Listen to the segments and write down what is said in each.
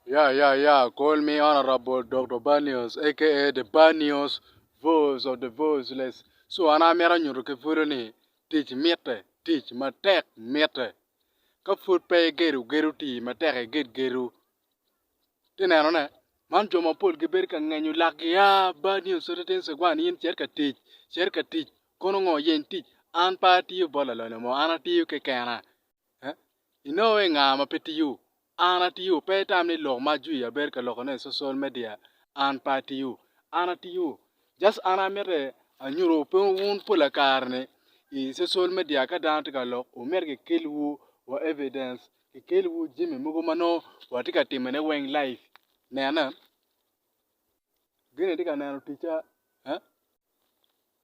Yeah yeah yeah call me honourable Doktor Banios aka the Banios voice of the voiceless so an amito nyuto ki pwod ni tic mitte tic matek mitte ka pwod pe igedo gedo oti matek iged gedo ite neno ne man jo mapol gibedo ka ngenyo lakgi aah Banios twenti twenti twenti one in cet ka tic cet ka tic kono ngo yeny tic an pe atiyo bot lalonya mo an atiyo kekena. Inongo i nga ma pe tiyo? An atiyo. Pe itam ni lok ma ajwi abedo ka lokone i social media an pe atiyo. An atiyo. Just an amite anyutu pe wun pola kare ni i social media ka dano tye ka lok wumit ki kel wu wa evidence ki kel wu jami mogo ma nongo wa tye ka timo ne weng live. Nene gin ni tye ka neno ticca eh.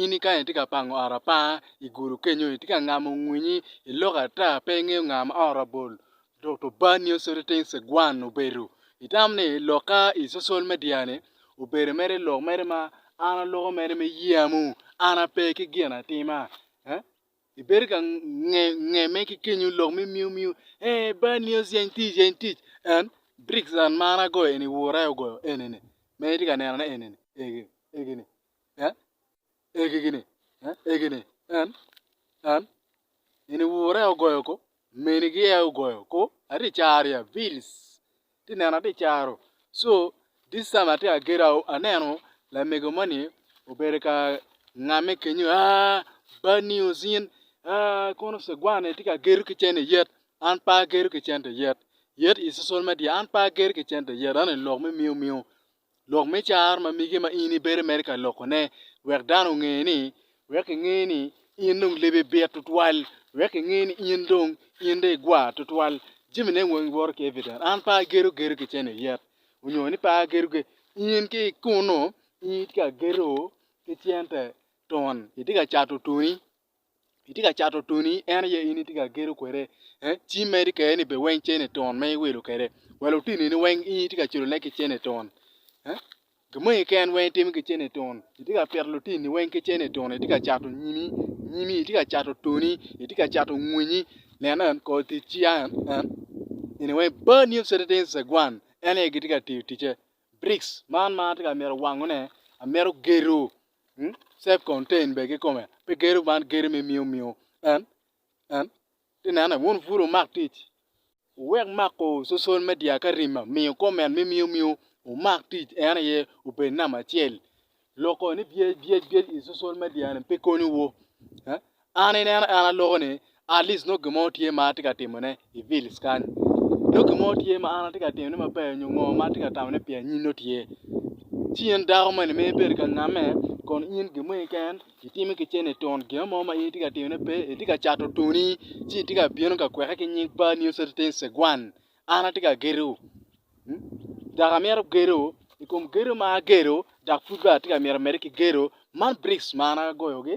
In i kany itye ka pango ot apar i gudo kenyo itye ka ngamo ngwinyi i lok ata pe ingeyo nga ma ot rabol dok obanni oso niting cigwan obedo itamo ni lok ka i social media ni obedo mere lok mere ma an aloko mere me yeya mo an ape ki gin atima ibedo ka ngeme ki kenyo lok me miu miu ee banni oso yeny tic yeny tic en bricks and ma an agoyo eni ur aye ogoyo enini ma in itye ka nenone enini egi eni. en egigi ni, en egi ni, en, en, eni wura aye ogoyo ko, minigi aye ogoyo ko, atye ka caro ya bills, atye ka neno atye ka caro, so this time atye ka gedo aneno lamego moni obedo ka ngame kenyo aah bad news in aah kono cigwani tye ka gedo ki cente yet an pe agedo ki cente yet, yet i social media an pe agedo ki cente yet an i lok me miu miu. Lok me car ma mege ma in ibedo mere ka lokone wek dano onge ni, wek kinge ni in dong lebi bit tutwal, wek kinge ni in dong in dong igwa tutwal. Jami ne weng woto ki evident. An pe agedo gedo ki cene oyet onyo ni pe agedo gedo. In ki kunu in itye ka gedo ki cente tun itye ka cato tuni. itye ka cato toni en aye in itye ka gedo kwede ci imedi kwede ni bene weng cene twon ma iwilo kwede wa lutinoni weng in itye ka culone ki cene twon gin moni keken weng itimo ki cene twon itye ka pito lutinoni weng ki cene twon itye ka cato nyimi itye ka cato toni itye ka cato winyi nen en kor tic ci a en eni weng bad new citizen gwan en aye gitye ka tiyo ticce briks man ma atye ka mito wangone amito gedo Self contained bene kikome pe gedo man gedo me miyo miyo en en ti nene wun pud wumak tic wuwek mako social media ka rima miyo comment me miyo miyo wumak tic en aye obed namba acel loko ni byec byec byec i social media ni pe konyo wu An ineno en aloko ni atleast nongo gin mo tye ma atye ka timone i village kany nongo gin mo tye ma an atye ka timone maber nyo ngo ma atye ka tamone pi anyim nongo tye ci in dako moni ma ibedo ka ngame kun in gin mo keken itime ki cente tun gin mo ma in itye ka timone pe itye ka cato tuni ci itye ka bino ka kweke ki nying pa nio Citizen Cegwan an atye ka gedo dok amito gedo i kom gedo ma agedo dok pud bene atye ka miti mede ki gedo man bricks ma an agoyogi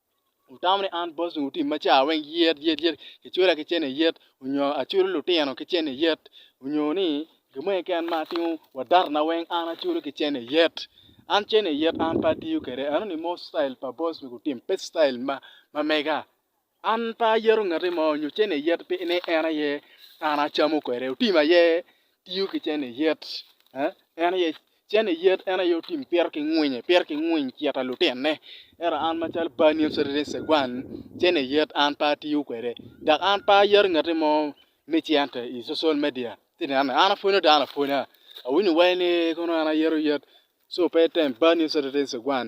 Wutamo ni an Boston wutim maca weng yet yet yet kicula ki cene yet onyo aculo lutino ki cene yet onyo ni gin mo keken ma atimo wa data na weng an aculo ki cene yet an cene yet an pe atiyo kwede i anongo ni mono citayil pa Boston gutim pe citayil ma mega an pe ayeto ngati mo onyo cene yet pi ni en aye an acamo kwede otim aye tiyo ki cene yet en aye Cen ni yet en aye otim pire ki ngwinye, pire ki ngwiny cito lutinne. Ento an macalo bani in Saturday Segwan, cen ni yet an pe atiyo kwede. Dok an pe ayero ngati mo me cente i social media ci nene. An apwonyo dano apwonya. Awinyo wai ni kono an ayero yet, so pe item bani in Saturday Segwan.